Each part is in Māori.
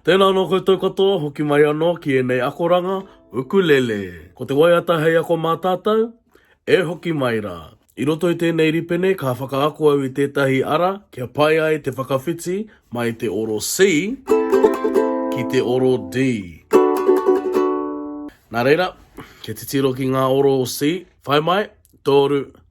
Tēnā anō koutou katoa, hoki mai anō ki ēnei akoranga, ukulele. Ko te waiata hei ako mā tātou? E hoki mai rā. I roto i tēnei ripene ka whakaako au i tētahi ara kia pai ai te whakawhiti mai te oro C ki te oro D. Nā reira, kia titiro ki ngā oro o C, whai mai, tōru,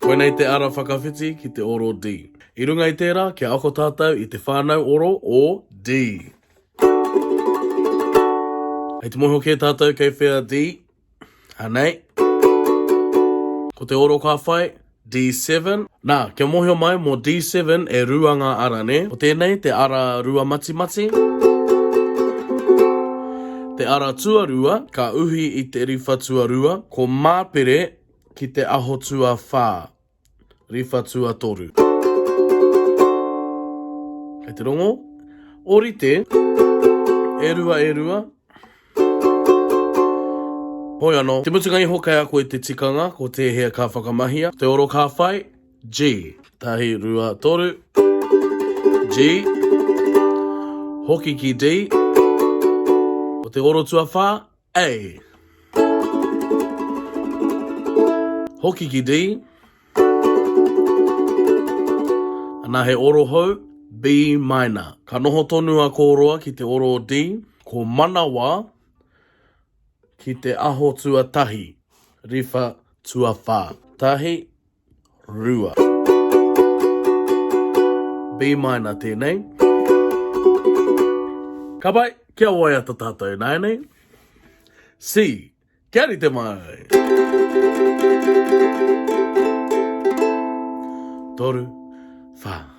Koinei te ara whakawhiti ki te oro D. I runga i tērā, kia ako tātou i te whānau oro o D. Hei te moho kē tātou kei whea D. Anei. Ko te oro ka whai, D7. Nā, kia mōhio mai mō D7 e rua ngā ara, nē? Ko tēnei te ara rua matimati. Te ara tuarua ka uhi i te riwha tuarua, ko Māpere, ki te aho tuawhā, riwha tuatoru. Kei te rongo, orite, e rua e rua. Hoi ano, te mutunga iho kei a koe te tikanga, ko tēhea ka whakamahia, te oro ka whai, G. Tahi, rua, toru, G. Hoki ki D. Ko te oro tuawhā, A. Hoki ki D. Ana he oro hou, B minor. Ka noho tonu a Koroa ki te oro o D, ko Manawa ki te aho tuatahi, riwha tuawha. Tahi. rua. B minor tēnei. Ka pai, kia waiata tātou ināianei. C, kia rite mai. Toru, whā.